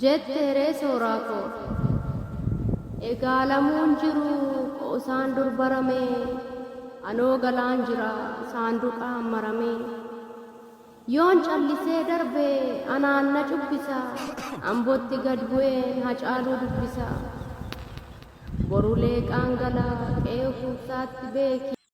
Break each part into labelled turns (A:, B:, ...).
A: Jette ree sooraa koo. Egaa lamuun jiruu qoosaan dur baramee anoo galaan jira saanduqaan maramee yoon callisee darbe anaan na cubbisa ambotti gad bu'een hacaaluu dubbisa boru leeqaan gala qe'ee ufuufsaatti beeki.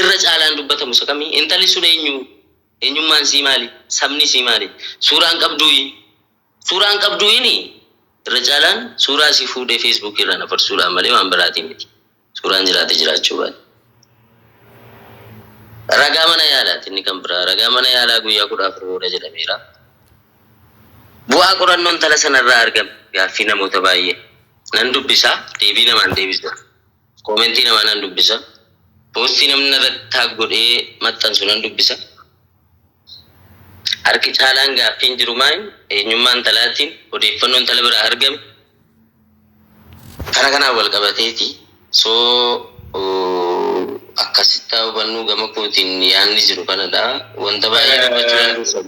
B: irra caalaan dubbatamu isa kami? Intalli sun eenyu? Eenyummaan isii maali? Sabni isii maali? Suuraan qabduuyi? Suuraan qabduuyin irra caalaan suuraa isii fuudhee Facebook irraan afarsuudhaan malee waan biraatiin miti. Suuraan jiraate jiraachuu baate. Ragaa mana yaalaati inni kan biraa. Ragaa mana yaalaa guyyaa kudha afur booda jedhameera. Bu'aa qorannoo intala sana irraa argame gaaffii namoota baay'ee nan dubbisa, deebii namaan deebisa, koomentii namaa nan dubbisa, poostii namni narratti taag godhee maxxansu nan dubbisa. Harki caalaan gaaffiin jiru maayim eenyummaa intalaatiin odeeffannoo intala biraa argame kana kanaan wal qabateeti. So akkasittaa hubannuu gama kootiin yaanni jiru kanadha. Wanta baay'ee dubbachuu dandeessan.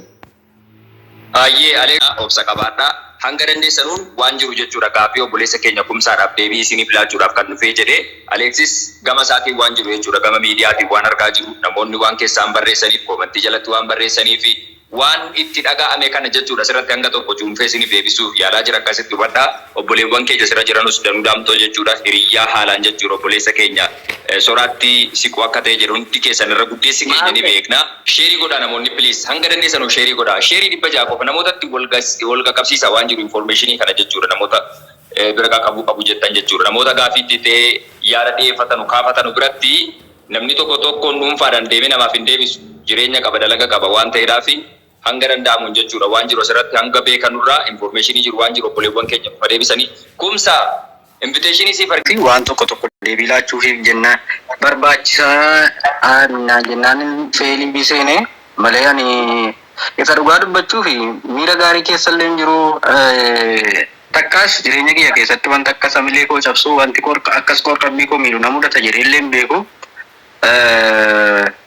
C: Baay'ee Alex dha obsa qabaadhaa. Hanga dandeessanuun waan jiru jechuudha gaaffii obboleessa keenya Kumsaadhaaf deebii isiiniif laachuudhaaf kan dhufee jedhe. Alexis gama isaatiin waan jiru jechuudha gama miidiyaatiin waan argaa jiru, namoonni waan kessaan barreessaniif, koomantii jalatti waan barreessaniifi waan itti dhaga'ame kana jechuudha asirratti hanga tokko cuunfee isiiniif deebisuuf yaalaa jira akkasitti hubadhaa. Obboleewwan keenya asirra jiranus Danuu Daamxoo jechuudha hiriyyaa haalaan jechuudha obboleessa keenya. Soraattii siquu akka ta'e jedhu hundi keessan irra guddeessi keenya ni beekna. Sheerii godhaa namoonni please hanga dandeessanu sheerii godhaa sheerii 600 qofa namootatti wal qaqqabsiisa waan jiru information kana jechuudha namoota bira qaqabuu qabu jettan jechuudha namoota gaafii itti ta'e yaada dhiyeeffatanu kaafatanu biratti namni tokko tokkoon dhuunfaadhaan deemee namaaf hin deebisu jireenya qaba dalaga qaba waan ta'eedhaafi Hanga danda'amu hojjechuudha. Waan jiru asirratti hanga beekanurraa information jiru waan jiru obboleewwan keenya nuuf haa deebisanii. Kumsa! Invitation siif ergeera. fi waan tokko tokko deebii laachuufiif jennaan barbaachisa naan jennaanin feeliifi seene malee ani isa dhugaa dubbachuufi miira gaarii keessallee hin jiru takkaas jireenya kiyya keessatti wanti akkas hamilee koo cabsu wanti akkas qoor-qalbii koo miidhu na mudata jedheellee hin beeku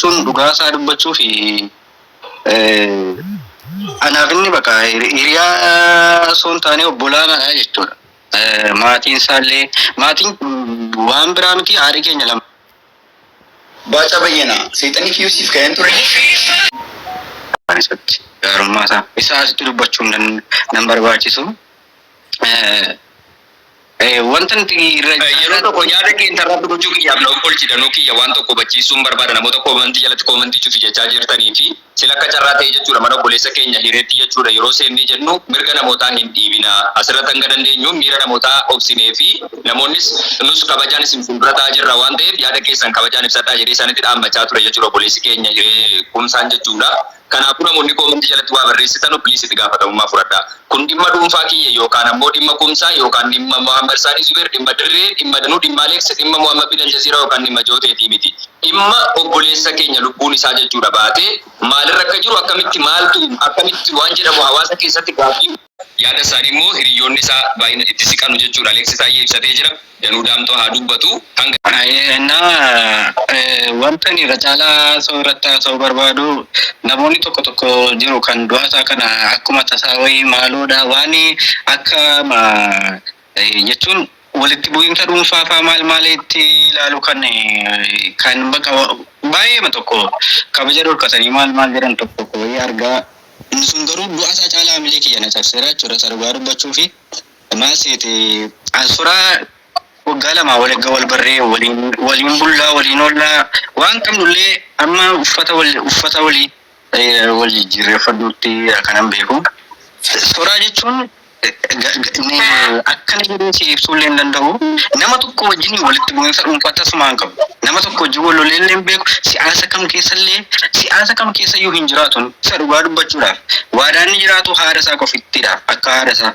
C: Tun dhugaa isaa dubbachuu fi anaaf inni bakka hiriyaa osoo hin taane obbolaa naadha jechuudha. Maatiin isaallee maatiin waan biraa miti haadhi keenya lama.
D: Baacaa Bayyana seexanni kiyyuu siif ka'een ture. Waan isatti gaarummaa
C: isaa isaa asitti dubbachuun nan barbaachisu. wanta nuti irra yeroo tokko yaada kee intarratti gochuu kiyyaaf na obbolchi danuu kiyya waan tokko hubachiisuun barbaada namoota koomantii jalatti koomantii cufi jechaa jirtanii fi sila akka carraa ta'ee jechuudha mana obboleessa keenya hireetti jechuudha yeroo seennee jennu mirga namootaa hin dhiibina asirratti hanga dandeenyu miira namootaa obsinee fi namoonnis nus kabajaan isin fuuldura ta'aa jirra waan ta'eef yaada keessan kabajaan ibsadhaa jedhee isaanitti dhaammachaa ture jechuudha obboleessi keenya hiree kumsaan jechuudha. Kanaafuu namoonni comment jalatti waa barreessitanu please itti gaafatamummaa fudhadhaa. Kun dhimma dhuunfaa kiyya yookaan ammoo dhimma Kumsaa yookaan dhimma Mohammed Saadi Zubeer, dhimma Dirree, dhimma Danuu, dhimma Alex, dhimma Mohammed bin Aljazeera yookaan dhimma Jooteetii miti. Dhimma obboleessa keenya lubbuun isaa jechuudha baatee maalirra akka jiru akkamitti maaltu akkamitti waan jedhamu hawaasa keessatti gaaffii Yaada isaanii immoo hiriyyoonni isaa baay'ina itti siqanu jechuudha Aleeksi Taayyee ibsatee jira. Danuu Daamxoo haa dubbatu. Hanga. Na Wanta ani irra caalaa haasa'uu irratti haasa'uu barbaadu namoonni tokko tokko jiru kan du'a isaa kana akkuma tasaa wayii maaloodha waan akka jechuun walitti bu'iinsa dhuunfaa faa maal maaliitti ilaalu kan kan baqa baay'eema tokko kabaja dhorkatanii maal maal jedhan tokko tokko wayii argaa inni sun garuu du'a isaa caalaa hamilee kiyya na cabseera jechuudha isa dhugaa dubbachuu fi maal seete an suraa
E: waggaa lamaa wal erga wal barree waliin waliin bullaa waliin ollaa waan qabnullee amma uffata wal uffata walii Ee wal jijjiirreeffadhu itti akanan beeku. Sodaa jechuun akkana jedhee si ibsuu illee hin danda'u. Nama tokko wajjin walitti bu'iinsa dhuunfaa tasumaa hin qabu. Nama tokko wajjin wal lolee illee hin beeku. Siyaasa kam keessa illee siyaasa kam keessa iyyuu hin jiraatu inni. Isa dhugaa dubbachuudhaaf. Waadaan inni jiraatu haadha isaa qofittidha. Akka haadha isaa.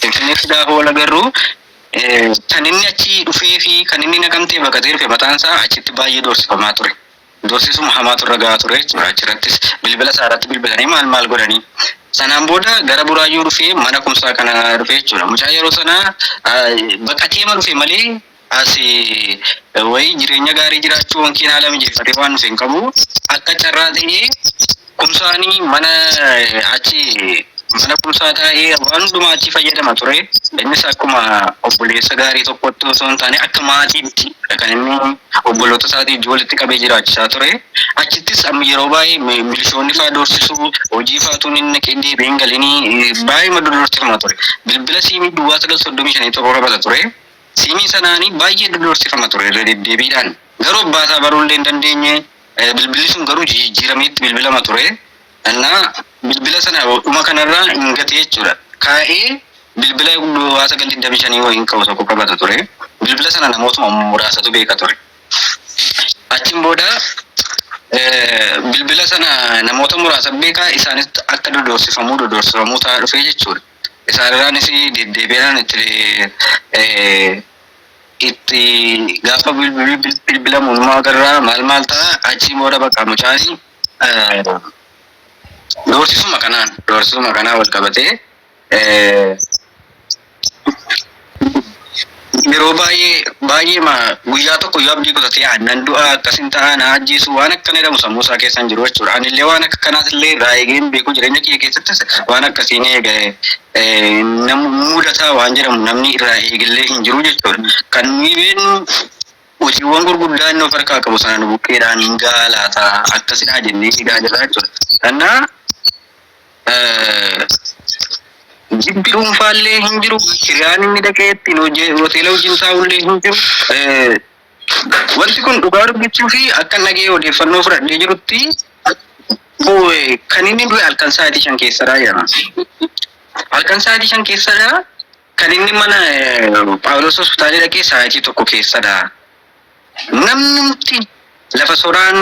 E: Finfinnee fi gaafa wal agarru kan inni achii dhufee fi kan inni Naqamtee baqatee dhufe mataan isaa achitti baay'ee doorsifamaa ture. Doorsisuma hamaatu irra gahaa ture jechuudha. Achirrattis bilbila isaa irratti bilbilanii maal maal godhanii. Sanaan booda gara Buraayyuu dhufee mana kumsaa kana dhufee jechuudha. Mucaa yeroo sana baqateema dhufe malee As wayii jireenya gaarii jiraachuu wankiin haala mijeeffatee waan dhufe hin qabu. Akka carraa ta'ee Kumsaan mana achi mana Kumsaa taa'ee waan hundumaa achii fayyadama ture. Innis akkuma obboleessa gaarii tokkotti osoo hin taane akka maatiitti kan inni obboloota isaatii wajjin walitti qabee jiraachisaa ture. Achittis amma yeroo baay'ee mi- milishoonni fa'aa doorsisuu hojii fa'aatuun inni naqee deebi'ee hin galinii baay'ee madda doorsifama ture. Bilbila siimii duwwaa sagal soddomii shanii torba qabata ture. Siimii sanaani baay'ee dodorsifama ture irra deddeebiidhaan. Garuu abbaa isaa baruu illee hin dandeenye. Bilbilli sun garuu jijijiiramee itti bilbilama ture. Anna bilbila sana dhuma kana irra hin gate jechuudha. Kaa'ee bilbila duwwaa sagal digdamii shanii wayiin ka'u tokko qabata ture. Bilbila sana namootuma muraasatu beeka ture. Achiin booda bilbila sana namoota muraasa beeka isaanis akka dodorsifamuu dodorsifamuu ta'aa dhufe jechuudha. Isaanirraanis deddeebi'aan itti gaafa bilbilamu numa agarra maal maal ta'a achiin booda bakka mucaan doorsisuma kanaan doorsisuma kanaan wal qabatee Yeroo baay'ee, baay'eema guyyaa tokko yoo abdii kutatee an nan du'a, akkasin ta'a, na ajjeesu waan akkana jedhamu sammuu isaa keessa hin jiru jechuudha. Anillee waan akka kanaas illee irraa eegee hin beeku jireenya kiyya keessattis waan akkasii ni eega na mudata waan jedhamu namni irraa eegellee hin jiru jechuudha. Kan nuyi beeknu hojiiwwan gurguddaa inni of harkaa qabu sana nu bukkeedhaan hin gahaa laata akkasidhaa jennee eegaa jirra jechuudha. Kannaa Jibbi dhuunfaallee hin jiru, hiriyaan inni dhaqee ittiin hojii hoteela wajjin taa'ullee hin jiru. Wanti kun dhugaa dubbachuuf akkan dhaga'ee odeeffannoo fudhadhee jirutti kan inni du'e halkan sa'aatii shan keessadha jedhama. Halkan sa'aatii shan keessadha kan inni mana Phaawulos hospitaalii dhaqee sa'aatii tokko keessadha. Namnumti lafa soraan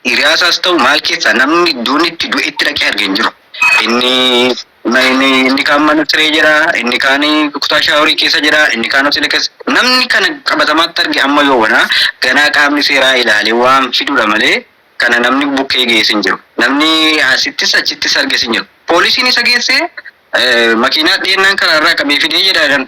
E: Hiriyaasaas ta'u maal keessaa namni duunni itti du'e itti dhaqee arge hin jiru. Inni inni inni kaan mana siree jira, inni kaan kutaa shaaworii keessa jira, inni kaan hoteela keessa namni kana qabatamaatti arge amma yoo wanaa ganaa qaamni seeraa ilaalee waan fidudha malee kana namni bukkee geesse hin jiru. Namni asittis achittis arges hin jiru. Poolisiin isa geessee makiinaa dhiyeennaan karaarraa qabee fidee jedha jedhan.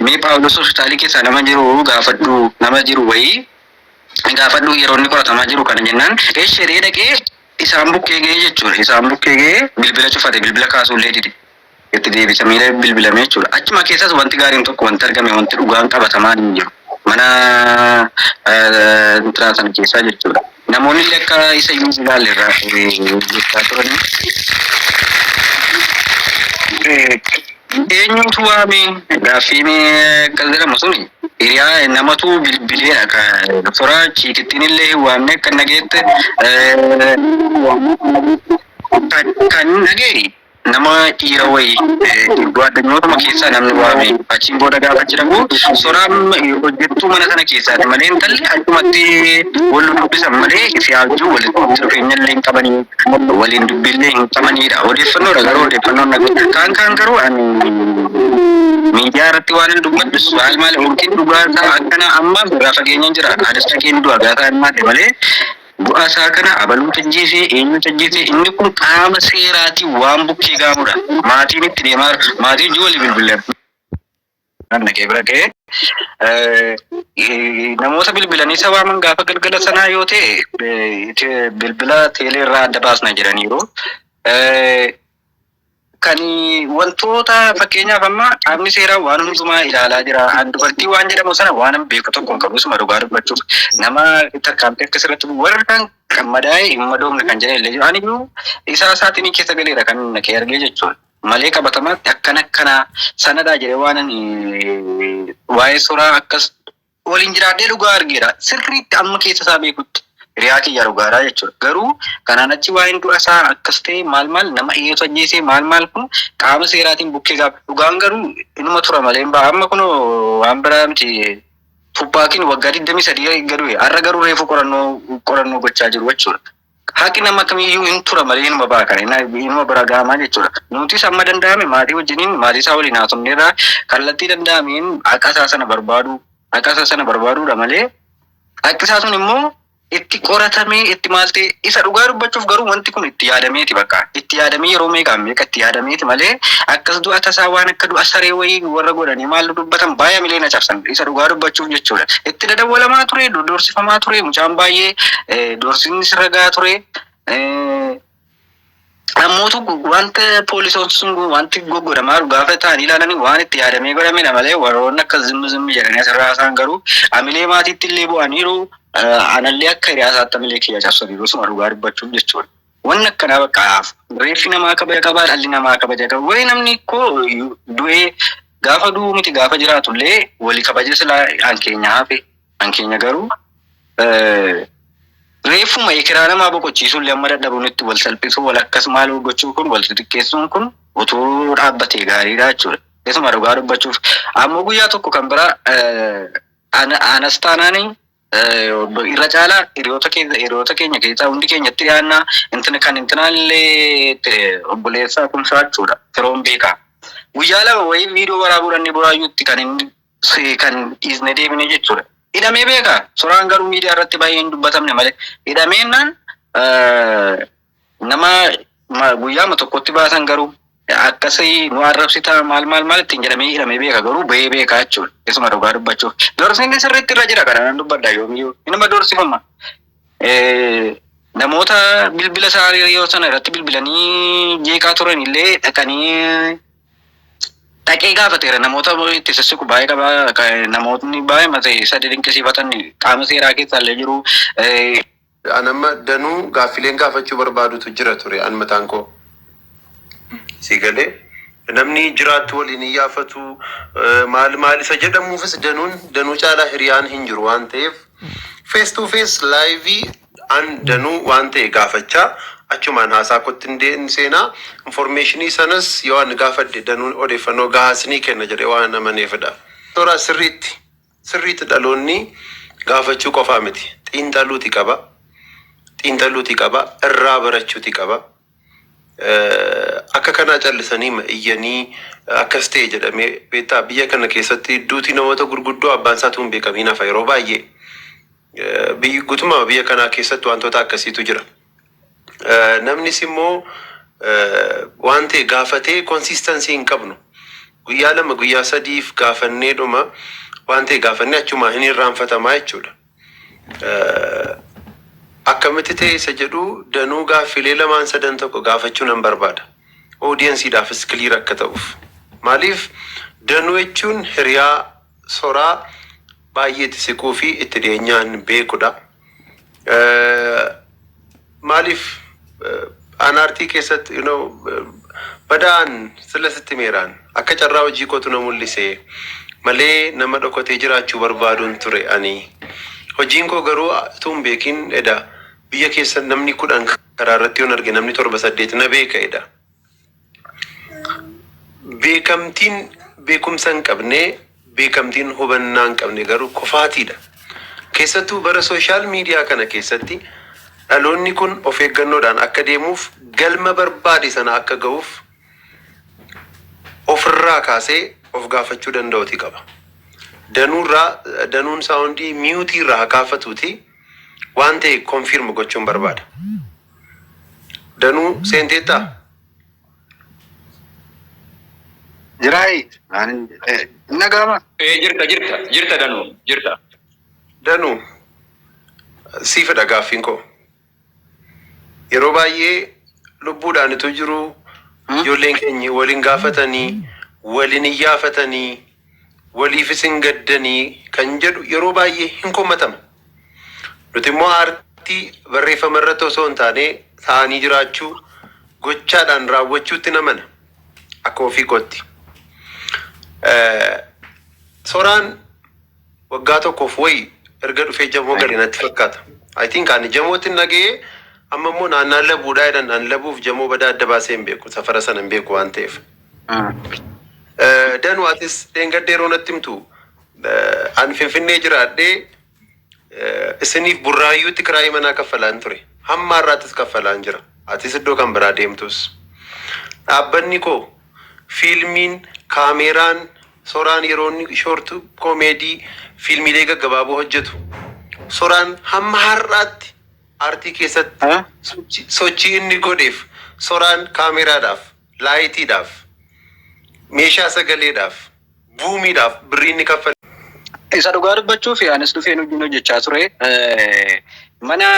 E: Mee Phaawulos hospitaalii keessaa nama jiru gaafadhu, nama jiru wayii gaafadhu yeroo inni qoratamaa jiru kana jennaan esh jedhee dhaqee isaan bukkee ga'ee jechuudha. Isaan bukkee ga'ee bilbila cufate, bilbila kaasuu illee dide. Itti deebisamee illee bilbilamee jechuudha. Achuma keessas wanti gaariin tokko wanti argame wanti dhugaan qabatamaan hin jiru. Mana eh, intiraa sana keessaa jechuudha. Namoonnille akka isa iyyuu hin ilaalle irraa jechaa turane. Eenyuutu waame? Gaaffiin akkas jedhamu suni hiriyaa namatu bilbileedha ka doktora chiikittiinillee hin waamne akka hin dhageette kan hin dhageeri. Nama dhiira wayi guaddanyootuma keessaa namni waame. Achiin booda gaafa achi dhaqu Soraam hojjettuu mana sana keessaati malee intalli achumatti wal dubbisan malee siyaa wajjin walitti dhufeenyallee hin qabanii waliin dubbiillee hin qabaniidha. Odeeffannoodha garuu odeeffannoon dhaga'e. Kaan kaan garuu ani miidiyaa irratti waan hin dubbadhus maal maal yookiin dhugaa isaa akkana ammaaf irraa fageenyaan jira. Anis dhaqeen du'a gaafa hin maate malee Du'a isaa kana abaluutu ajjeese, eenyutu ajjeese, inni kun qaama seeraatiin waan bukkee ga'amudha. Maatiin itti deemaa jira. Maatii wajjin walii bilbilleera. Naan dhaqee bira ga'ee, eh, namoota bilbilanii isa waaman gaafa galgala sanaa yoo ta'e, eh, te- bilbila teelee irraa adda baasna jedhaniiru. Eh, Kan wantoota fakkeenyaaf amma qaamni seeraa waan hundumaa ilaalaa jira. An dubartii waan jedhamu sana waan hin beeku tokko hin qabu suma dhugaa dubbachuuf. Nama tarkaanfii akkas irratti bu'u warri kan kan madaa'e hin madoofne kan jedhan illee jiru. Ani iyyuu isaa isaatiin keessa galeera kan inni kee argee jechuudha. Malee qabatamaatti akkana akkanaa sanadhaa jedhee waan ani waa'ee suuraa akkas Waliin jiraadhee dhugaa argeera. Sirriitti amma keessa isaa beekutti hiriyaa kiyya dhugaadha jechuudha. Garuu kanaan achi waa'een du'a isaa akkas ta'e maal maal nama eeyyeetu ajjeese maal maal kun qaama seeraatiin bukkee gaafa dhugaan garuu inuma tura malee hin ba'a. Amma kunoo waan biraa miti Tuppaakiin waggaa 23 eegga du'e har'a garuu reefu qorannoo qorannoo gochaa jiru jechuudha. Haqi nama kamiyyuu hin tura malee hinuma baha kana inna inuma bira gahama jechuudha. Nutis amma danda'ame maatii wajjiniin maatii isaa waliin haasofneerra kallattii danda'ameen haqa isaa sana barbaaduu haqa isaa sana barbaaduudha malee haqi isaa sun immoo itti qoratamee itti maal ta'e isa dhugaa dubbachuuf garuu wanti kun itti yaadameeti bakka itti yaadamee yeroo meeqaan meeqa itti yaadameeti malee akkas du'a tasaa waan akka du'a saree wayii warra godhanii maal dubbatan baay'ee milee na cabsan isa dhugaa dubbachuuf jechuudha. itti dadawwalamaa ture, doorsifamaa ture, mucaan baay'ee doorsiin sirra gahaa ture. Namoota wanta poolisoon sun wanti goggodamaa jiru gaafa ta'an ilaalanii waan itti yaadamee godhame malee warroonni akka zimmi zimmi jedhanii asirraa haasaan garuu amilee maatiitti illee bu'aniiru. Anallee akka hiriyaasaatti amilee kiyya cabsaniiru suma dhugaa dubbachuuf jechuudha. Wanni akkanaa bakka hafu. Reeffi namaa kabaja qabaa, dhalli namaa kabaja qaba. Wayee namni koo du'ee gaafa du'uu miti gaafa jiraatullee wali kabaja silaa an keenya hafe an keenya garuu reeffuma ekeraa namaa boqochiisuullee amma dadhabuun itti wal salphisuu wal akkas maaloo gochuu kun wal xixiqqeessuun kun utuu dhaabbatee gaariidha jechuudha. Isuma dhugaa dubbachuuf ammoo guyyaa tokko kan biraa ana anas taanaanii Irra caalaa hiriyoota keenya hiriyoota keenya keessaa hundi keenya itti dhiyaannaa intina kan intinaallee itti obboleessaa kumsaa jechuudha firoon beekaa. Guyyaa lama wayii viidiyoo waraabuudhaan ni buraayyuutti kan inni si- kan dhiisne deebine jechuudha. Hidhamee beekaa soraan garuu miidiyaa irratti baay'ee hin dubbatamne malee hidhameennaan eh, Nama ma- guyyaama tokkotti baasan garuu akkasii nu arrabsitaa maal maal maal ittiin jedhamee hidhamee beeka garuu bahee beekaa jechuudha. Isuma dhugaa dubbachuuf. Dorsiinni sirriitti irra jira kana nan dubbadha yoomiyyuu. Inuma dorsifama. Eh, Namoota bilbila isaa yoo sana irratti bilbilanii jeeqaa turan illee dhaqanii dhaqee gaafateera namoota itti sissiqu baay'ee qaba Ka- namootni baay'ee mata isa dinqisiifatan qaama seeraa keessaa illee jiru eh, An
F: amma danuu gaaffileen gaafachuu barbaadutu jira ture an mataan koo. Si galee namni jiraattu waliin hin yaafatu eh, maal maal isa jedhamuufis danuun danuu caalaa hiriyaan hin jiru waan ta'eef face to face live an danuu waan ta'e gaafachaa achumaan haasaa kootti hin dee- hin seenaa informeeshinii sanas yoo an gaafadhe danuun odeeffannoo gahaa sinii kenna jedhee waan amaneefidha. Toraa sirriitti. Sirriitti dhaloonni gaafachuu qofaa miti. Xiinxaluuti qaba. Xiinxaluuti qaba. Irraa barachuuti qaba. Eh, Akka kanaa callisanii ma iyyanii akkas ta'e jedhamee beektaa biyya kana keessatti duuti namoota gurguddoo abbaan isaatu hin beekamiin hafa yeroo baay'ee. Eh, biyyi- Guutummaa biyya kanaa keessatti wantoota akkasiitu jira. Eh, Namnis immoo eh, waan ta'e gaafatee konsistansii hin qabnu. Guyyaa lama guyyaa sadiif gaafannee dhuma waan ta'e gaafannee achumaa hin irraanfatamaa jechuudha. Eh, Akkamitti ta'e isa jedhu danuu gaaffilee lamaan sadan tokko gaafachuu nan barbaada. Oodiyensiidhaafis kiliir akka ta'uuf. Maaliif danuu jechuun hiriyaa Soraa baay'ee itti siquu fi itti dhiyeenyaan beekudha. Maaliif aanaartii keessatti you know, badaan sila sitti meeraan akka carraa hojii kootu na mul'ise malee nama dhokatee jiraachuu barbaaduun ture ani. Hojiin koo garuu utuu hin beekin eda biyya keessa namni kudhan karaa irratti yoon arge namni torba saddeet na beeka eda. Beekamtiin beekumsa hin qabne, beekamtiin hubannaa hin qabne garuu kufaatiidha. Keessattuu bara sooshaal miidiyaa kana keessatti dhaloonni kun of eeggannoodhaan akka deemuuf galma barbaade sana akka ga'uuf ofirraa kaasee of gaafachuu danda'uti qaba. Danuurraa danuun saawundii miyuutii irraa haa kaafatuuti waan ta'e konfiirm gochuun barbaada. Danuu seenteettaa?
E: Jiraayi. Nagaama. Ee jirta jirta
C: jirta danuu jirta. Danuu
F: siifidha gaaffiin koo yeroo baay'ee lubbuudhaan utuu jiruu ijoolleen keenya waliin gaafatanii waliin iyyaafatanii waliifis hin gaddanii kan jedhu yeroo baay'ee hin komatama. Nuti immoo aartii barreeffama irratti osoo hin taane ta'anii jiraachuu, gochaadhaan raawwachuutti namana akka ofii kootti. Soraan waggaa tokkoof wayi erga dhufee jamoo gale natti fakkaata. I think ani jamootti hin dhaga'ee amma immoo naannaan labuudhaa jedhan ani labuuf jamoo badaa adda baasee hin beeku safara sana hin beeku waan ta'eef. Danu atis dheengadda yeroo natti himtu eh, an Finfinnee jiraadhee eh, isiniif burraayyuutti kiraayii manaa kaffalaan ture. Hamma har'aattis kaffalaan jira. Atis iddoo kan biraa deemtus. Dhaabbanni koo fiilmiin, kaameeraan, soraan yeroo inni shoortu koomeedii fiilmiilee gaggabaaboo hojjetu. Soraan hamma har'aatti aartii keessatti sochii inni godheef soraan kaameeraadhaaf laayitiidhaaf, meeshaa sagaleedhaaf, buumiidhaaf birrii inni kaffale. Isa dhugaa
E: dubbachuuf anis dhufeen hojiin hojjechaa ture. Mana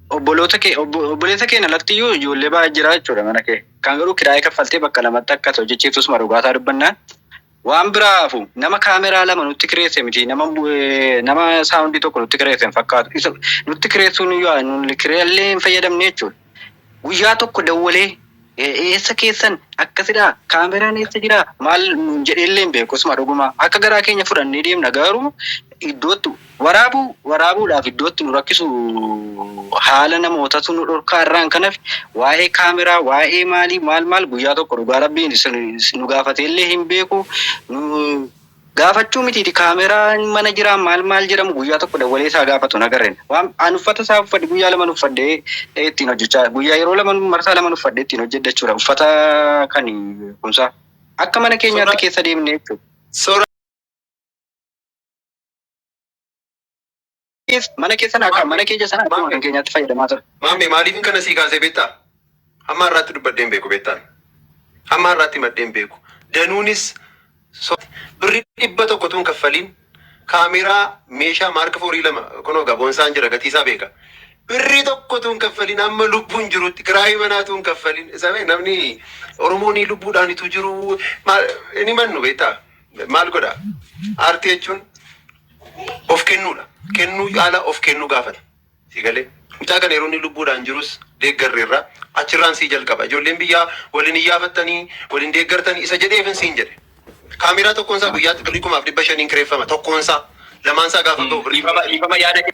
E: obboloota kee obboleessa keen alatti iyyuu ijoollee baay'ee jira jechuudha mana kee. Kan garuu kiraayee kaffaltee bakka lamatti akka hojjechiiftusuma dhugaataa dubbannaa. Waan biraa hafuu nama camera lama nutti kireesse miti nama nama sound tokko nutti kireesse hin fakkaatu isa nutti kireessuun yoo nuti kireellee hin fayyadamne jechuudha. Guyyaa tokko dawwalee eessa keessan akkasidhaa kaameraan eessa jira maal nuun jedheellee hin beeku isuma dhugumaa akka garaa keenya fudhannee deemna garuu iddootti Waraabuu, waraabuudhaaf iddootti nu rakkisu haala namootatu nu dhorkaa irraan kan hafe waa'ee kaameraa waa'ee maalii maal maal guyyaa tokko dhugaa rabbiin nu gaafatee illee hin beeku nu gaafachuu mitiiti kaameraa mana jiraa maal maal jedhamu guyyaa tokko dawwalee isaa gaafatu hin agarre waan an uffata isaa uffadhe guyyaa lama uffadhee ittiin hojjechaa guyyaa yeroo lama marsaa lama uffadhe ittiin hojjedha jechuudha uffata kan kumsaa akka mana keenyaatti keessa deemnee jechuudha. mana keessan akka mana keenya sana akkuma kan keenyaatti fayyadamaa ture. Maammee maaliifin kana sii
F: kaasee beektaa? Hamma har'aatti dubbadhee hin beeku beektaan. Hamma har'aatti maddee hin beeku. Danuunis so- birri dhibba tokko tuun kaffaliin kaameeraa meeshaa maarka foorii lama kunoo gaboonsaan jira gatiisaa beeka. Birri tokko tuun kaffaliin amma lubbuun jirutti kiraayii manaa tuun kaffaliin isa bee namni Oromoon lubbuudhaanitu jiru maal- inni mannu beektaa? Maal godha? Aartii jechuun of kennuudha. Kennuu caalaa of kennuu gaafata. Si galee? Mucaa kana yeroo inni lubbuudhaan jirus deeggarreerra. Achirraan sii jalqaba. Ijoolleen biyyaa wal hin iyyaafattanii, wal hin deeggartanii isa jedheefin siin jedhe. Kaameeraa tokkoon isaa guyyaatti birrii kumaaf dhibba shaniin kireeffama. Tokkoon isaa. Lamaan isaa gaafa gahu birrii kuma. Dhiifama, dhiifama yaada kee.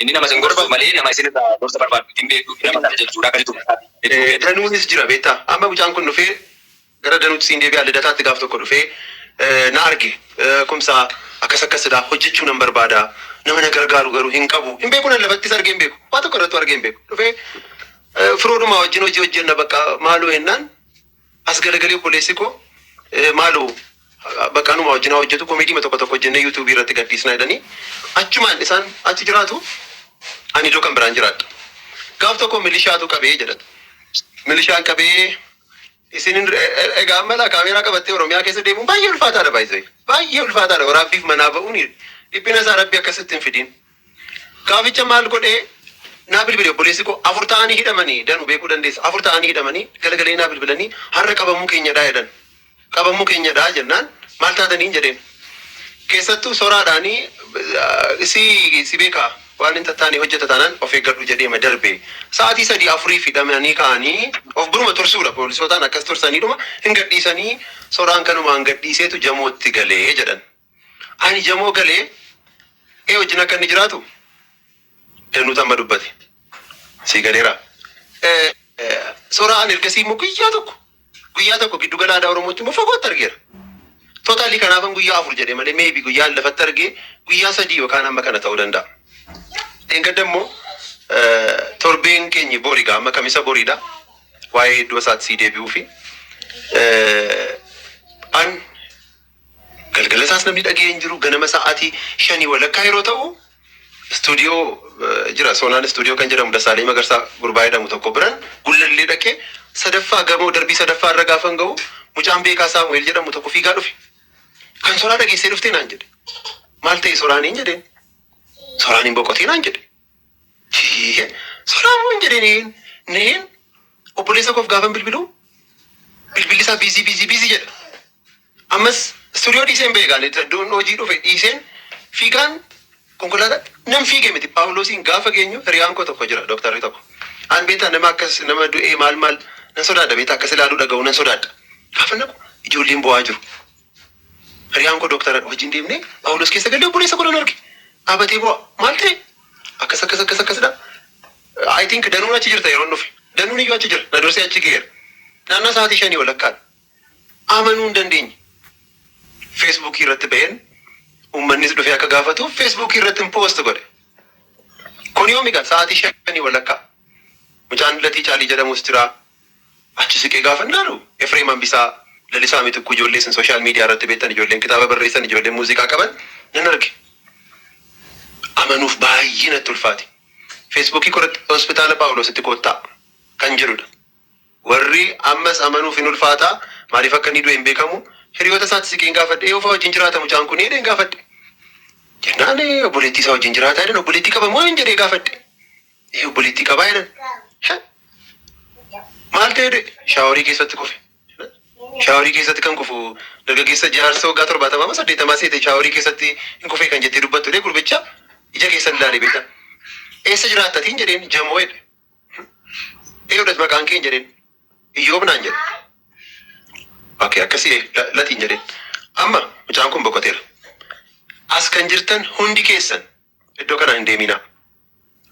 C: Inni nama isin gorsu malee nama isin irraa gorsa barbaadu miti, hin beektu fi nama kana jajjuudha akka jettu mataa fi jechuu kee dha. Danuunis jira beektaa.
F: Amma mucaan kun dhufee gara Danuutti siin deebi'aa Lidataatti gaaf tokko dhufee na arge Kumsaa akkas akkas dha hojjechuu nan barbaada nama na gargaaru garuu hin qabu hin beeku nan lafattis argee hin beeku waa tokko irrattuu argee hin beeku dhufee firoodhumaa wajjin hojii hojjenna bakka maaloo jennaan As garagali obboleessi koo maalo bakka anuma wajjin haa hojjetu komeediima tokko tokko hojjennee yuutuubii irratti gadhiisna jedhanii achumaan isaan achi jiraatu ani iddoo kan biraan jiraadha. Gaaf tokko milishaatu qabee jedhan. Milishaan qabee isin hin- e- e- egaa amma laa kaameeraa qabattee Oromiyaa keessa deemuun baay'ee ulfaataadha baay'ee baay'ee ulfaataadha waraabbiif manaa ba'uun dhiphina isaa rabbi akkasitti hin fidiin. Gaaficha maal godhee naa bilbile obboleessi koo afur ta'anii hidhamani danu beekuu dandeessa afur ta'anii hidhamanii galagalanii naa bilbilanii har'a qabamuu keenyadhaa jedhan qabamuu keenyadhaa jennaan maal taataniin jedheen keessattuu soraadhaanii si si beekaa waan hin tattaane hojjeta taanaan of eeggadhu jedheema darbe sa'aatii sadii afuriif hidhamanii ka'anii of biruma tursuudha poolisootaan akkas tursaniidhuma hin gadhiisanii soraan kanumaan gadhiiseetu jamootti galee jedhan Ani jamoo galee ee wajjin akka inni jiraatu danuutu amma dubbate. Sii galeera. Eh, eh, Soraa ani ergasii immoo guyyaa tokko guyyaa tokko giddu gala aadaa Oromootti immoo fagootti argeera. Totaalii kanaafan guyyaa afur jedhe malee meebi guyyaa inni lafatti argee guyyaa sadii yookaan amma kana ta'uu danda'a. Dheengadda immoo eh, torbeen keenyi boriga amma kamisa boriidha. Waa'ee iddoo isaatti sii deebi'uu fi eh, an Galgala isaas namni dhaga'ee hin jiru. Ganama sa'aatii shanii walakkaa yeroo ta'u istuudiyoo jira. Soonaan istuudiyoo kan jedhamu Dassaaleny Magarsaa gurbaa jedhamu tokko biran gullallee dhaqee sadaffaa gamoo darbii sadaffaa irra gaafan ga'u mucaan beekaa Saamu'eel jedhamu tokko fiigaa dhufe. Kan soraa dhageessee dhuftee naan jedhe. Maal ta'e soraaniin jedheen. Soraan hin boqotiinaan jedhe. Ciiye sodaa moo hin jedhee neheen neheen obboleessa koof gaafan bilbiluu bilbilli isaa biizii biizii biizii jedha ammas istuudiyoo dhiiseen ba'e gaale iddoon hojii dhufe dhiiseen fiigaan konkolaataa nan fiige miti paawuloosiin gaafa geenyu hiriyaan koo tokko jira dooktarri tokko aan beetaa nama akkas nama du'ee maal maal nan sodaadha beetaa akkas ilaaluu dhaga'u nan sodaadha gaafa naqu ijoolleen bo'aa jiru Hiriyaan koo Doktaradha wajjin deemne Phaawulos keessa galle obboleessa koo nan arge. Dhaabatee boo'a. Maal ta'e? Akkas akkas akkas akkasidha. I think Danuun achi jirta yeroon dhufe. Danuun iyyuu achi jira. Na dursee achi ga'eera. Naannaa sa'aatii shanii walakkaadha. Amanuu hin dandeenye. Feesbuukii irratti ba'een uummannis dhufee akka gaafatuuf feesbuukii irratti hin poost godhe. Kun yoomi egaa sa'aatii shanii walakkaa. Mucaan Latii Caalii jedhamus jira. Achi siqee gaafan laalu Efreem Hambisaa, Lalisaa Mitikkuu ijoollee isin social media irratti beektan ijoolleen kitaaba barreessan ijoolleen muuziqaa qaban nan arge. Amanuuf baay'ee natti ulfaate. Facebook koo irratti Hospitaala Phaawuloositti koottaa kan jedhudha. Warri ammas amanuuf hin ulfaataa maaliif akka inni du'e hin beekamu hiriyoota isaatti siqeen gaafadhe eeyu fa'aa wajjin jiraata mucaan kun jedheen gaafadhe. Jennaan obboleettii isaa wajjin jiraataa jedhan obboleettii qaba moo hin jedhee gaafadhe. Ee obboleettii qabaa jedhan. Shan. Maal ta'ee du'e? Shaaworii keessatti kufe. Shaaworii keessatti kan kufu dargaggeessa jaarsa waggaa torbaatamaa moo saddeettamaa seete shaaworii keessatti hin kufee kan jettee dubbattu jedhee gurbicha ija keessan ilaale beektaa. Eessa jiraatta tiin jedheen jamoo jedhe. Eewdhas maqaan keen jedheen iyyoob naan jedhe. Oke akkasii eh, la- latiin jedheen. Amma mucaan kun boqoteera. As kan jirtan hundi keessan Iddoo kanaa hin deemiinaa.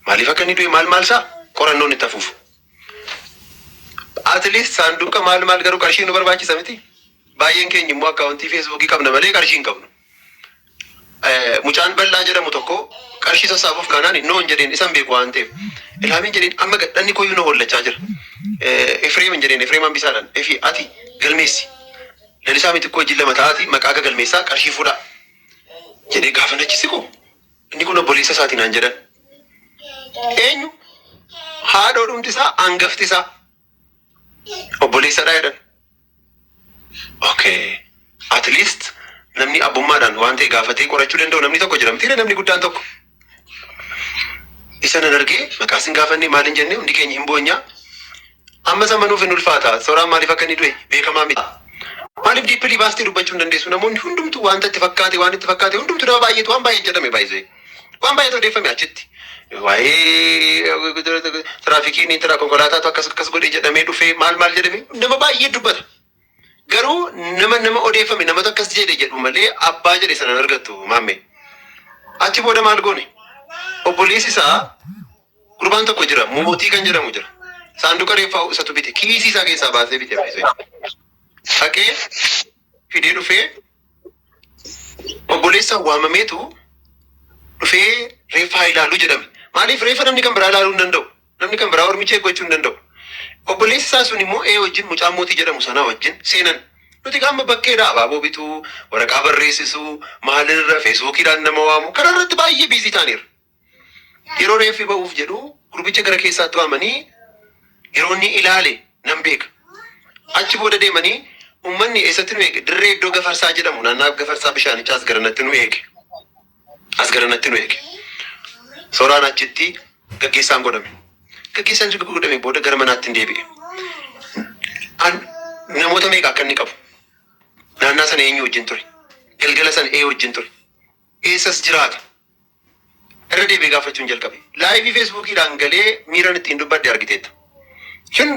F: Maaliif akka inni du'e maal maal isaa qorannoon itti hafuuf. At least saanduuqa maal maal garuu qarshii nu barbaachisa miti. Baay'een keenya immoo akkaawuntii feesbuukii qabna malee qarshii hin qabnu. Eh, Mucaan bal'aa jedhamu tokko qarshii sassaabuuf kaanaan noon jedheen isan beeku waan ta'eef. Ilhaamiin jedheen amma gadhanni koyyuu na hollachaa jira. Eh, Efreemin jedheen Efreem hambisaadhaan efi ati galmeessi. Lalisaa miti koo jilla mataatii maqaa gagalmeessaa qarshii fuudhaa. jedhee gaafan achi siqu inni kun obboleessa isaati naan jedhan. Eenyu haadhoo dhumti isaa angafti isaa obboleessadhaa jedhan. Okay. At least namni abbummaadhaan waan ta'e gaafatee qorachuu danda'u namni tokko jira mitiire namni guddaan tokko. Isa nan argee maqaa sin gaafannee maal hin jennee hundi keenya hin boonya. Amma isa manuuf hin ulfaata. Soraan maaliif akka inni du'e beekamaa miti. Maaliif diippilii baastee dubbachuu hin dandeessu? Namoonni hundumtuu wanta itti fakkaate waan itti fakkaate hundumtuu nama baay'eetu waan baay'ee jedhame baay'isee. Waan baay'eetu odeeffame achitti. Waa'ee tiraafikiin tira konkolaataatu akkas akkas godhe jedhamee dhufee maal maal jedhame nama baay'ee dubbata. Garuu nama nama odeeffame namatu akkas jedhe jedhu malee abbaa jedhe sana hin argattu maammee. Achi booda maal goone? Obboleessi isaa gurbaan tokko jira mootii kan jedhamu jira. Saanduqa reeffaa isatu bite kiisii isaa keessaa baasee bite bilisee. Dhaqee fidee dhufee obboleessa waamameetu dhufee reeffa haa ilaalu jedhame. Maaliif reeffa namni kan biraa ilaaluu hin danda'u. Namni kan biraa ormi check gochuu hin danda'u. Obboleessi isaa sun immoo A wajjin mucaa Mootii jedhamu sanaa wajjin seenan. Nuti egaa amma bakkeedha abaaboo bituu, waraqaa barreessisuu, maalirra feesbuukiidhaan nama waamuu kana irratti baay'ee biizii taaneerra. Yeroo reeffi ba'uuf jedhu gurbicha gara keessaatti waamanii yeroo inni ilaale nan beeka. Achi booda deemanii uummanni eessatti nu eege? Dirree iddoo Gafarsaa jedhamu naannaa Gafarsaa bishaanichaas garanatti nu eege. as garanatti nu eege. Sooraan achitti gaggeessaan godhame. Gaggeessaan erga godhame booda gara manaatti hin deebi'e. An namoota meeqa akka inni qabu naannaa sana eenyu wajjin ture? Galgala sana ee wajjin ture? Eessas jiraata? Irra deebi'ee gaafachuun jalqabe. Laayivii feesbuukiidhaan galee miiran ittiin dubbadhe argiteetta. Shin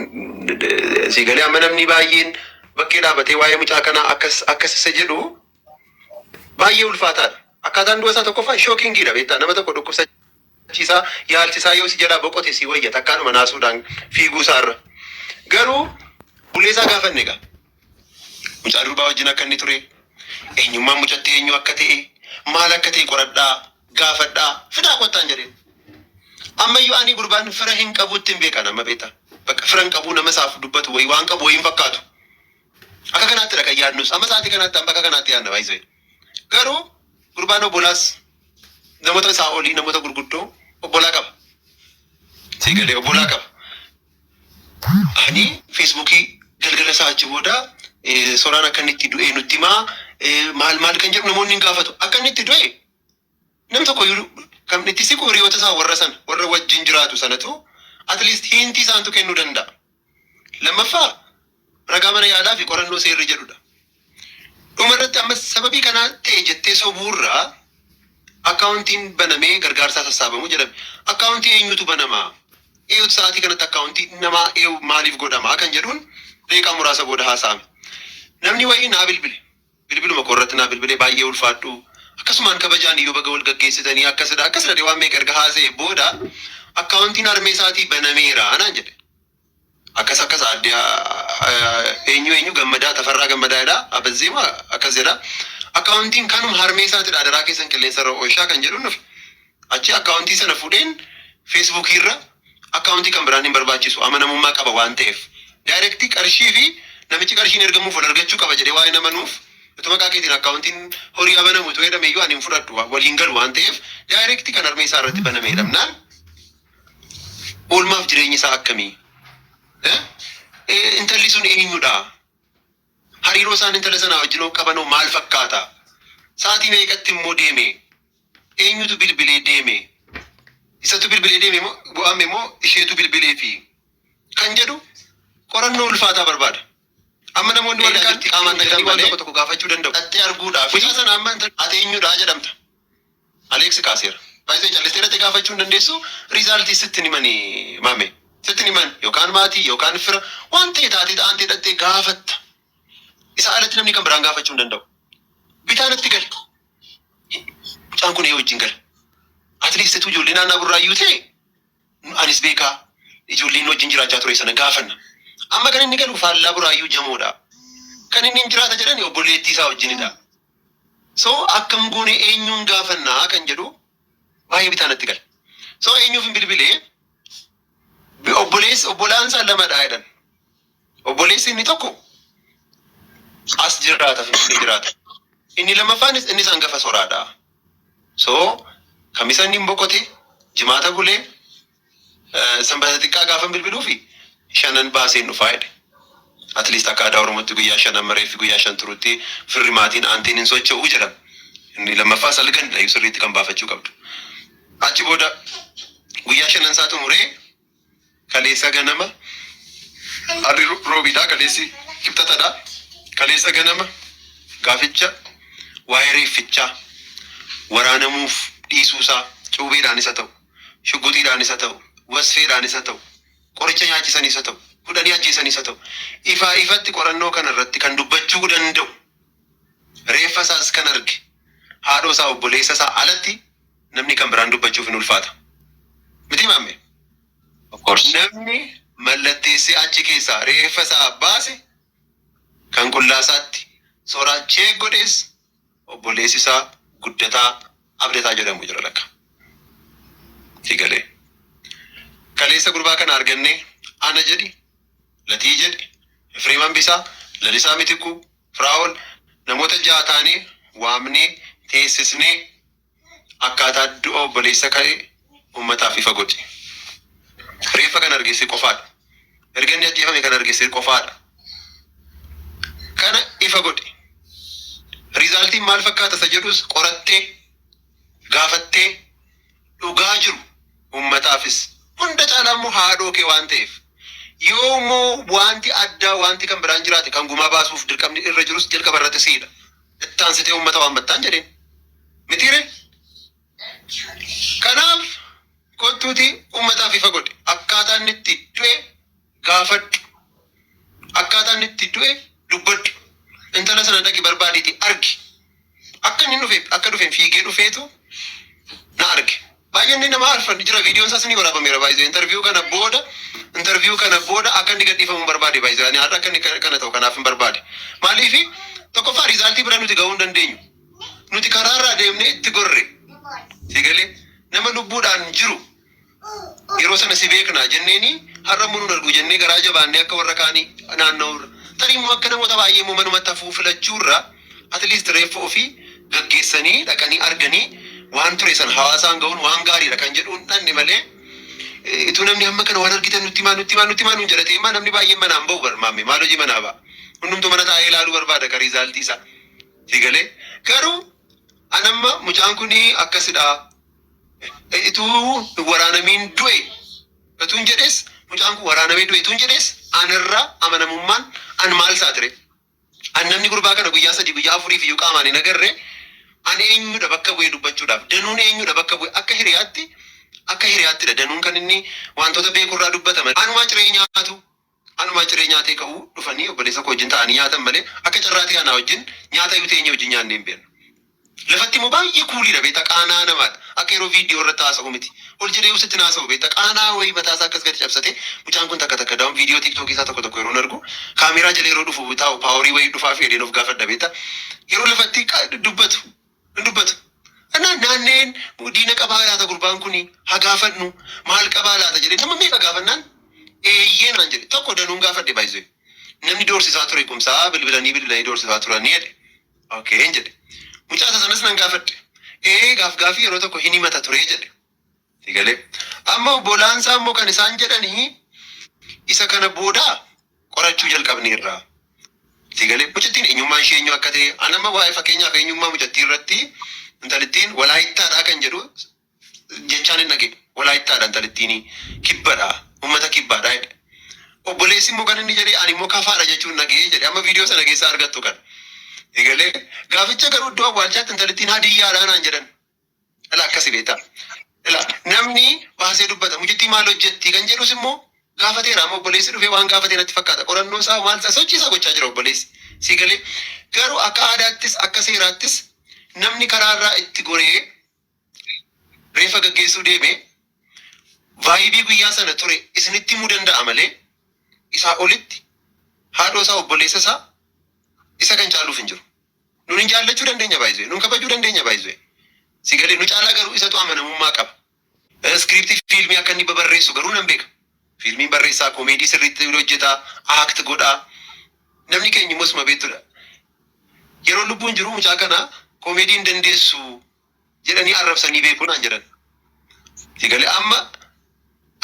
F: si galee amma namni baay'een bakkee dhaabatee waa'ee mucaa kanaa akkas akkas isa jedhu Baay'ee ulfaataadha. Akkaataan du'a isaa tokkoffaa shookingiidha beektaa nama tokko dhukkubsachiisaa yaalchisaa yoo si jalaa boqote si wayya takkaadhuma naasuudhaan fiiguu isaa irra. Garuu bulee isaa gaafanne egaa. Mucaa durbaa wajjin akka inni ture, eenyummaan mucatti eenyu akka ta'e, maal akka ta'e qoradhaa, gaafadhaa, fidaa kottaan jedheen. Ammayyuu ani gurbaan fira hin qabuutti hin beekan amma beektaa. Bakka fira hin qabuu nama isaaf dubbatu wayi waan qabu wayi hin fakkaatu. Akka kanaatti kan yaadnus amma sa'aatii kanaatti amma akka kanaatti yaadna baay'isee garuu gurbaan obbolaas namoota isaa olii namoota gurguddoo obbolaa qaba siigalee obbolaa qaba ani feesbuukii galgala isaa achi booda eh, soraan akka inni itti du'e nutti himaa eh, maal maal kan jedhu namoonni hin gaafatu akka inni itti du'e Namni tokko iyyuu kan itti siqu hiriyoota isaa warra sana, warra wajjin jiraatu sanatu at least hint isaantu kennuu danda'a. Lammaffaa ragaa mana yaalaa fi qorannoo seerri jedhu dha. Dhuma irratti ammas sababii kanaa ta'e jettee sobuu irra akkaawuntiin banamee gargaarsaa sassaabamu jedhame. Akkaawuntii eenyutu banama? Eenyutu sa'aatii kanatti akkaawuntii namaa eegu maaliif godhama kan jedhuun daqiiqaa muraasa booda haasa'ame. Namni wayii naa bilbile. Bilbiluma koo irratti naa bilbilee baay'ee ulfaadhu akkasumaan kabajaan iyyuu baga wal gaggeessitanii akkasidha akkasidha jedhee waan meeqa erga haasa'ee booda akkaawuntiin harmee isaatii banameera naan jedhe. Akkas akkas aadde eenyu eenyu gammadaa tafarraa gammadaa jedha abazzeema akkas jedha akkaawuntiin kanuma harmee isaatidha adaraa keessan qilleensarra oolchaa kan jedhuun dhufe. Achi akkaawuntii sana fuudheen Facebook irra akkaawuntii kan biraan hin barbaachisu amanamummaa qaba waan ta'eef. Direct qarshii fi namichi qarshiin ergamuuf wal argachuu qaba jedhee waan hin amanuuf utuu maqaa keetiin akkaawuntiin horii haa banamu utuu jedhame iyyuu ani hin fudhadhu wal hin galu waan ta'eef direct kan harmee isaa irratti baname jedhamnaan oolmaaf jireenyi isaa akkamii? Eh, eh, Intalli sun eenyudha? Hariiroo isaan intala sanaa wajjinoo qabanoo maal fakkaata? Sa'atii meeqatti immoo deeme? Eenyutu bilbilee deeme? Isatu bilbilee deeme moo go'ame moo isheetu bilbileefi? Kan jedhu qorannoo ulfaataa barbaada. Amma namoonni warri kaan qaamaan dhaqanii waan tokko tokko gaafachuu danda'u. Dhaxxee arguudhaafi. Mucaa sana amma ati eenyudha jedhamta. Alex kaaseera. By the way callistee irratti gaafachuu hin dandeessu result sitti hin himani maame sitti hin himan yookaan maatii yookaan fira waan ta'e taatee ta'aan ta'e dhattee gaafatta isaa alatti namni kan biraan gaafachuu hin danda'u bitaa natti gale mucaan kun ee wajjin gale at least situ ijoollee naannaa burraayyuu ta'e anis beekaa ijoolleen wajjin jiraachaa ture sana gaafanna amma kan inni galu faallaa burraayyuu jamoodha kan inni hin jiraata jedhani obboleettii isaa wajjinidha So akkam goone eenyuun gaafanna kan jedhu baay'ee bitaa natti gala. So eenyuufin bilbile obboleessi obbolaan isaa lamadha jedhan. Obboleessi inni tokko as jiraata finfinnee jiraata. Inni lammaffaanis inni isaan gafa soraadha. So kamisa inni hin boqote jimaata bulee Eh, Sanbata xiqqaa gaafan bilbiluufi shanan baaseen dhufaa jedhe. At least akka aadaa Oromootti guyyaa shan amma reeffi guyyaa shan turutti firri maatiin aantiin hin socho'uu jedhama. Inni lammaffaa salgandha iyyuu sirriitti kan baafachuu qabdu. Achi booda guyyaa shanan isaa xumuree kaleessa ganama harri ro- roobiidhaa kaleessi kibxatadhaa kaleessa ganama gaaficha waa'ee reeffichaa waraanamuuf dhiisuusaa cuubeedhaanis haa ta'u shugguxiidhaanis haa ta'u, wasfeedhaanis haa ta'u, qoricha nyaachisaniis haa ta'u, hudhanii ajjeesaniis haa ta'u, ifaa ifatti qorannoo kana irratti kan dubbachuu danda'u, reeffa isaas kan arge, haadhoo isaa, obboleessa isaa alatti namni kan biraan dubbachuuf hin ulfaata. Mitii maammee? Of course. Namni mallatteessee achi keessaa reeffa isaa baase kan qullaa isaatti soraa cheek godhees Obboleessi isaa Guddataa Abdataa jedhamu jira lakka. Itti galee. Kaleessa gurbaa kana argannee ana jedhi, Latii jedhi, Efreem Hambisaa, Lalisaa Mitikkuu, Firaa'ol namoota ja'a taanee waamnee teessisnee Akkaataa du'a obboleessa ka'e uummataaf ifa godhi. Reeffa kan arge si qofaadha. Erga inni ajjeefame kan arge si qofaadha. Kana ifa godhi. Riizaaltiin maal fakkaata isa jedhus qorattee, gaafattee, dhugaa jiru uummataafis hunda caalaa immoo haadhoo kee waan ta'eef yoo immoo wanti addaa wanti kan biraan jiraate kan gumaa baasuuf dirqamni irra jirus jalqaba irratti siidha. itti aansitee uummata waammattaan jedheen. Mitiire? Kanaaf kottuuti uummataaf ifa godhe. Akkaataa inni itti du'e gaafadhu. Akkaataa inni itti du'e dubbadhu. Intala sana dhaqi barbaadiiti argi. Akka inni dhufe akka dhufeen fiigee dhufeetu na arge. Baay'inni nama arfan jira viidiyoon isaas ni waraabameera baay'ee interview kana booda interview kana booda akka inni gadhiifamu hin barbaade baay'ee ani har'a akka inni kana kana ta'u kanaaf hin barbaade maaliif tokkoffaa riizaaltii bira nuti ga'uu hin dandeenyu nuti karaarraa deemnee itti gorre sigalee nama lubbuudhaan jiru yeroo sana si beekna jenneeni har'a immoo nun argu jennee garaa jabaannee akka warra kaanii naanna'uurra tarii immoo akka namoota baay'ee immoo manumatti hafuu filachuurra At least reeffa ofii gaggeessanii dhaqanii arganii waan ture sana hawaasaan ga'uun waan gaariidha kan jedhu hin dhaqne malee ituu namni hamma kana waan argitan nutti himaa nutti himaa nutti himaa nuun jedha ta'e immaa namni baay'een manaa hin ba'u bar maammee maal hojii manaa ba'a hundumtuu mana taa'ee ilaaluu barbaada ka riizaaltii isaa si galee garuu an amma mucaan kun akkasidha Eh, ituu hin waraanamiin du'e Ituun jedhes mucaan kun waraanamee du'e ituun jedhes anarra amanamummaan an maal saatire An namni gurbaa kana guyyaa sadii guyyaa afuriif iyyuu qaamaan hin agarre an eenyudha bakka bu'ee dubbachuudhaaf danuun eenyudha bakka bu'e akka hiriyaatti akka hiriyaattidha danuun kan inni wantoota beekurraa dubbata malee anumaa ciree nyaatu anumaa ciree nyaatee ka'uu dhufanii obboleessa koo wajjin ta'anii nyaatan malee akka carraa ta'e anaa wajjin nyaata iyyuu teenyee wajjin nyaannee hin beeknu. Lafatti immoo baay'ee kuuliidha beektaa qaana'aa namaadha. Akka yeroo viidiyoo irratti haasa'u miti. Ol jedhee usitti hin haasa'u beektaa qaana'aa wayii mataa isaa akkas gadi cabsatee mucaan kun takka takka daawun viidiyoo tiktookii isaa tokko tokko yeroon argu kaameeraa jala yeroo dhufu taa'u paaworii wayii dhufaafii jedheen of gaafadha beektaa yeroo lafatti qa- dubbatu hin dubbatu. Anaan naanneen diina qabaa laata gurbaan kun haa gaafannu maal qabaa laata jedhee nama meeqa gaafannaan eeyyee naan jedhe tokko danuun gaafadhe baay'isee namni doorsisaa ture kumsaa bilbilanii bilbilanii doorsisaa turanii jedhe. Okeen jedhe. Mucaa isa sanas nan gaafadhe. Ee gaafgaafii yeroo tokko hin himata ture jedhe. Si galee. Amma obbolaan isaa immoo kan isaan jedhanii isa kana booda qorachuu jalqabneerra. Si galee. Mucattiin eenyummaan ishee eenyu akka ta'e an amma waa'ee fakkeenyaaf eenyummaa mucattii irratti intalittiin walaayittaadhaa kan jedhu jechaan hin dhagee walaayittaadha intalittiini kibbadha ummata kibbaadha jedhe obboleessi immoo kan inni jedhe ani immoo kafaadha jechuun dhagee jedhe amma viidiyoo sana keessaa argattu kan egalee gaaficha garuu iddoo awwaalchaatti intalittiin hadiyyaadha naan jedhan ila akkasi beektaa ila namni baasee dubbata mucittii maal hojjetti kan jedhus immoo gaafateera amma obboleessi dhufee waan gaafatee natti fakkaata qorannoo isaa maal isaa sochii isaa gochaa jira obboleessi si galee garuu akka aadaattis akka seeraattis namni karaarraa itti goree reeffa gaggeessuu deeme, vibe guyyaa sana ture isinitti himuu danda'a malee isaa olitti haadhoo isaa obboleessa isaa isa kan caaluuf hin jiru. Nun hin jaallachuu dandeenya by the way, nun kabajuu dandeenya by the way. Si galee nu caalaa garuu isatu amanamummaa qaba. Script fiilmii akka inni babarreessu garuu nan beeka. Fiilmiin barreessaa komeedii sirriitti hojjeta, act godha. Namni keenya immoo isuma beektudha. Yeroon lubbuun jiru mucaa kana komeedii hin dandeessu jedhanii arrabsanii beeku naan jedhan. Itti gale amma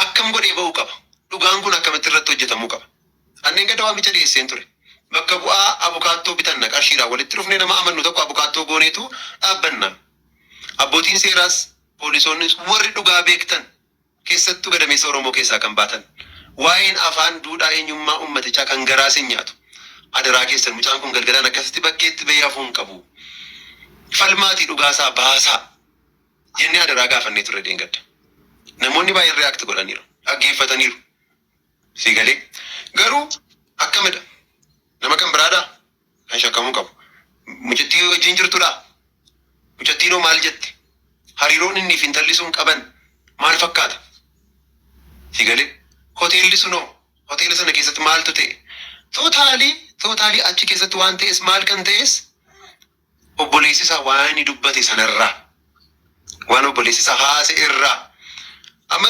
F: akkam godhee ba'uu qaba? Dhugaan kun akkamitti irratti hojjetamuu qaba? An dheengadda waamicha dhiyeesseen ture. Bakka bu'aa abukaattoo bitanna qarshiidhaan walitti dhufnee nama amannu tokko abukaattoo gooneetu dhaabbanna. Abbootiin seeraas, poolisoonnis warri dhugaa beektan Keessattuu gadameessa Oromoo keessaa kan baatan waa'een afaan, duudhaa, eenyummaa uummatichaa kan garaa isin nyaatu. Adaraa keessan mucaan kun galgalaan akkasitti bakkeetti bahee hafuu hin qabu. Falmaatii dhugaa isaa baasaa! jennee adaraa gaafannee turre dheengadda. Namoonni baay'een react godhaniiru. Dhaggeeffataniiru. Sii galee? Garuu akkamidha? Nama kan biraadhaa? kan shakkamuu qabu mucattii wajjin jirtudha. Mucattiinoo maal jette? Hariiroon inni fi intalli sun qaban maal fakkaata? Si galee? Hoteelli sunoo hoteela sana keessatti maaltu ta'e? Tootaalii tootaalii achi keessatti waan ta'es maal kan ta'es obboleessi isaa waan inni dubbate sanarraa waan obboleessi isaa haase irraa amma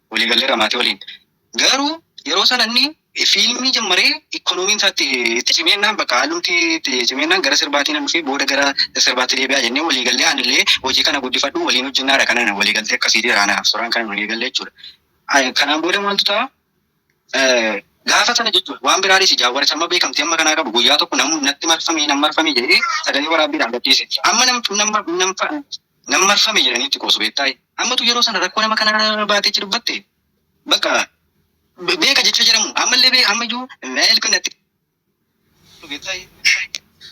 E: walii galleerra maatii waliin. Garuu yeroo sana inni fiilmii jammaree ikkonoomiin isaa itti itti cimee jennaan bakka haalumti itti cimee jennaan gara sirbaatii nan dhufee booda gara sirbaatti deebi'aa jennee walii gallee anillee hojii kana guddifadhu waliin hojjennaadha kanan walii galtee akkasii jira anaaf suraan kanan walii gallee jechuudha. Ay, Kanaan booda maaltu ta'a? Eh, Gaafa sana jechuudha waan biraa dhiisi jaawwaricha amma beekamtii amma kanaa qabu guyyaa tokko namu natti marfamee nan marfamee jedhee sagalee waraabbiidhaan gadhiise. Amma nam nam nam Nan marfame jedhanii itti qoosu beektaa? Ammatu yeroo sana rakkoo nama kanaa baatee itti dubbatte? Bakka be- beeka jecha jedhamu ammallee bee ammayyuu help natti beektaa?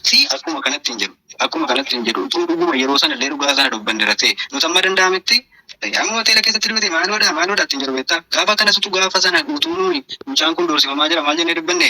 E: Si akkuma kanatti hin jedhu. Akkuma kanatti hin jedhu. Utuu dhuguma yeroo sana illee dhugaa sana dubbanne irra ta'e nuti amma danda'ametti eh, amma hoteela keessatti duute maaloodha maaloodha ittiin jedhu beektaa? Gaafa kanas utuu gaafa sana utuu nuyi mucaan kun doorsifamaa jira maal jennee dubbanne?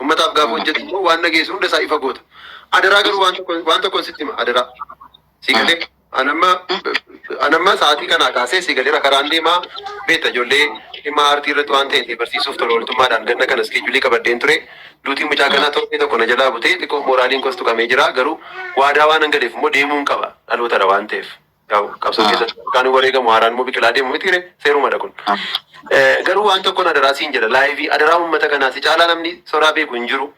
F: Ummataaf gaafa hojjetu immoo waan dhageessu hunda isaa ifa goota. Adaraa garuu waan tokko waan tokkoon sitti hima adaraa. Si galee anamma anamma sa'aatii kanaa kaasee si galeera karaan deemaa beekta ijoollee dhimma aartii irratti waan ta'e barsiisuuf tola ooltummaadhaan ganna kana iskeejulii qabadheen ture. Duutiin mucaa kanaa torbee tokko na jalaa butee xiqqoo mooraaliin kos tuqamee jira garuu waadaa waan hangaleef immoo deemuun qaba dhalootadha waan ta'eef. Yaa'u qabsoo Ah. keessatti burqaan wareegamu haaraan immoo biqilaa deemu miti ree seerumadha kun. Ah. Eh, Garuu waan tokkoon adaraa siin jedha laayivii adaraa uummata kanaa si caalaa namni soraa beeku hin jiru.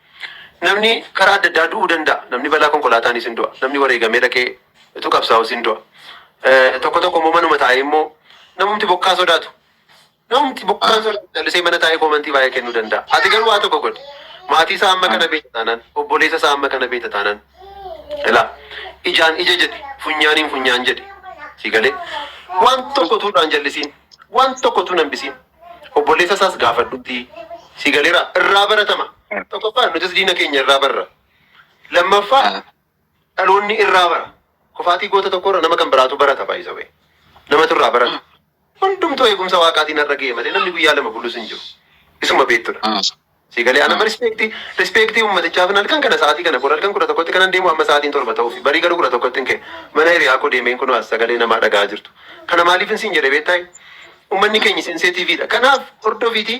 F: Namni karaa adda addaa du'uu danda'a. Namni balaa konkolaataanis hin du'a. Namni wareegamee dhaqee utuu qabsaa'us hin du'a. Eh, Tokko tokko immoo manuma taa'ee immoo namumti bokkaa sodaatu. Namumti buqqaan sun callisee mana taa'ee koomantii baay'ee kennuu danda'a. Ati garuu waa tokko godhi. Maatii isaa amma kana beekta taanaan, obboleessa isaa amma kana beekta taanaan, ilaa ijaan ija jedhi, funyaaniin funyaan jedhi. Si galee? Waan tokko utuu irraa hin jallisiin, waan tokko utuu hin hambisiin. Obboleessa isaas gaafadhuutii. Si galeera? Irraa baratama. Tokkoffaa nutis diina keenya irraa barra. Lammaffaa Dhaloonni irraa bara. Kufaatii goota tokkoo irra nama kan biraatu barata by the way. Namatu irraa barata. Hundumtuu eegumsa waaqaatiin har'a ga'e malee namni guyyaa lama bulus hin jiru. Isuma beektudha. Si galee anama rispeektii rispeektii uummatichaaf hin halkan kana sa'aatii kana kun halkan kudha tokkotti kanan deemu amma sa'aatiin torba ta'uufi barii garuu kudha tokkotti hin ka'e mana hiriyaa koo deemeen kunoo as sagalee namaa dhaga'aa jirtu. Kana maaliif hin siin jedhe beektaa? Ummanni keenya sensitive dha. Kanaaf hordofiiti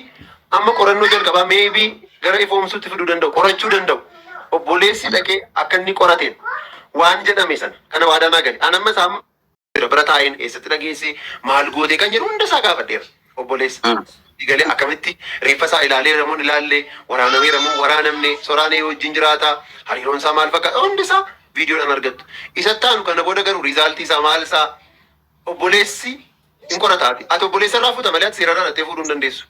F: amma qorannoo jalqabaa maybe gara ifoomsuutti fiduu danda'u, qorachuu danda'u. Obboleessi dhaqee akka inni qorateen waan jedhame sana kana waadaa naa gale. An amma isaa amma jira bira taa'een eessatti dhageesse maal gootee kan jedhu hunda isaa gaafadheera. Obboleessa Mm. galee akkamitti reeffa isaa ilaalee ramuun ilaalle waraanamee ramuun waraanamne soraan ee wajjin jiraata hariiroon isaa maal fakkaata hundi isaa viidiyoodhaan argattu. Isatti aanu kana booda garuu riizaaltii isaa maal isaa Obboleessi hin qorata ati. Ati obboleessa irraa fuuta malee ati seera irraa dhattee fuudhuu hin dandeessu.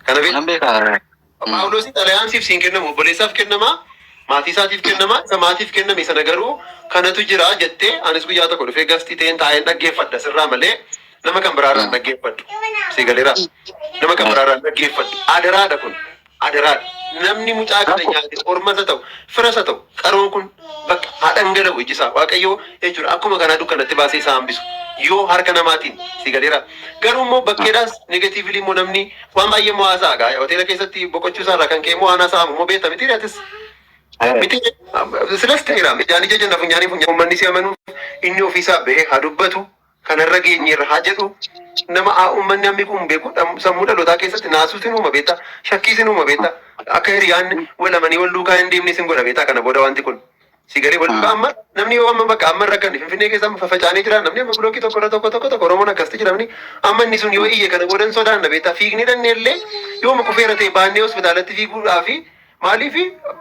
F: Kana beekta. Nan beeka. Mm. Phaawulosi xalayaan siif siin kennamu obboleessaaf kennama maatii isaatiif kennama isa maatiif kenname sana garuu kanatu jira jettee anis guyyaa tokko dhufee gastii ta'een taa'een dhaggeeffadha sirraa malee nama kan biraarraa hin Mm. dhaggeeffadhu sii galeera nama kan Mm. biraarraa hin dhaggeeffadhu adaraadha kun Adaraa namni mucaa kana nyaate ormas haa ta'u firas haa ta'u qaroon kun bakka haa dhangala'u iji isaa waaqayyoo jechuudha akkuma kanaa dukkanatti baasee isaa hambisu yoo harka namaatiin si galeera garuu immoo bakkeedhaas negatiivili immoo namni waan baay'ee immoo haasa'a gaa hoteela keessatti boqochuu isaa irraa kan ka'e immoo waan haasa'amu immoo beekta miti atis miti silas ta'eera ijaan ija jenna funyaanii funyaan uummanni si amanu inni ofiisaa ba'ee haa dubbatu kana irra geenyeerra haa jedhu nama aa ummanni hammi kun beeku dham- sammuu dhalootaa keessatti naasuu sin uuma beektaa shakkii sin uuma beektaa akka hiriyaan wal amanii wal duukaa hin deemne sin godha beektaa kana booda wanti kun si galee wal duukaa amma namni yoo amma bakka amma hin rakkanne finfinnee keessa amma fafacaanee jira namni amma bilookii tokko irra tokko tokko tokko oromoon akkasitti jiramni amma inni sun yoo iyye kana booda hin sodaanna beektaa fiignee dhannee illee yoo muka feera ta'e baannee hospitaalatti fiiguudhaa fi maaliif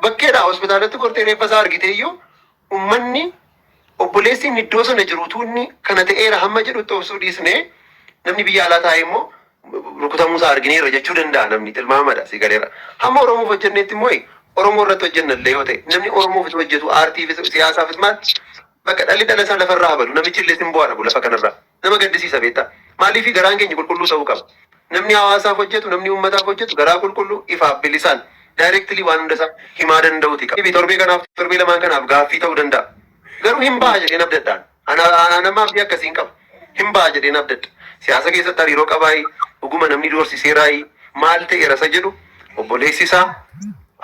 F: bakkeedha hospitaalatti gortee reeffa isaa argitee iyyuu Ummanni, obboleessi inni iddoo sana jiru utuu inni kana ta'eera hamma jedhutti obsuu dhiisnee namni biyya alaa taa'ee immoo rukutamuu isaa argineerra jechuu danda'a namni tilmaamadha si galeera. Hamma Oromoof hojjenneetti immoo Oromoo irratti hojjenna illee yoo ta'e namni Oromoof utuu hojjetu aartiifis siyaasaafis maal bakka dhalli dhala isaa lafarraa habadu namichi illee sin bu'aadha lafa kanarraa. Nama gaddisiisa beektaa. Maaliif garaan keenya qulqulluu sa'uu qaba. Namni hawaasaaf hojjetu, namni uummataaf hojjetu garaa qulqulluu, ifaaf, bilisaan, directly waan hunda isaa himaa danda'uuti qaba. Maybe torbee kanaaf, torbee lamaan kanaaf gaaffii ta'uu danda'a. Garuu hin baha jedheen abdadha an. An, an, an amma abdii akkasiin qaba. Hin baha jedheen abdadha. Siyaasa keessatti hariiroo qabaayii, dhuguma namni doorsiseeraayii, maal ta'eera isa jedhu obboleessi isaa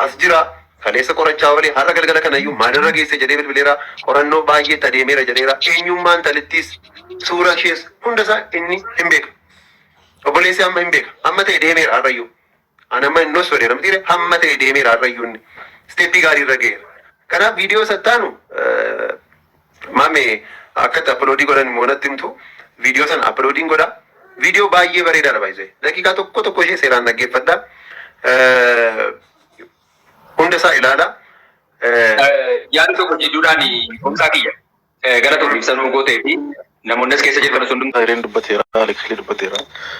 F: as jira. Kaleessa qorachaa oolee har'a galgala kanayyuu maalirra geesse jedhee bilbileera. Qorannoo baay'eetti adeemeera jedheera. Eenyummaa intalittiis, suuraa ishees hundasaa inni hin beeka. Obboleessi amma hin beeka. Amma ta'e deemeera har'ayyuu. Ani amma hin dhossu jedheera mitiire amma ta'e deemeera har'ayyuu inni. Isteeppii gaarii irra ga'eera. Kanaaf viidiyoo sattaanu maame akkatti appiloodii godhan immoo natti himtu viidiyoo sana appiloodiin godha. Viidiyoo baay'ee bareedaadha baay'isee. Daqiiqaa tokko tokko ishee seeraan dhaggeeffadha. Hunda isaa ilaala. Yaada
C: tokko jidduudhaan Kumsaa kiyya gara tokko ibsa nuu
F: gootee
C: fi namoonnis
F: keessa
C: jirtan sun Khayriin dubbateera, Alii Khayrii dubbateera.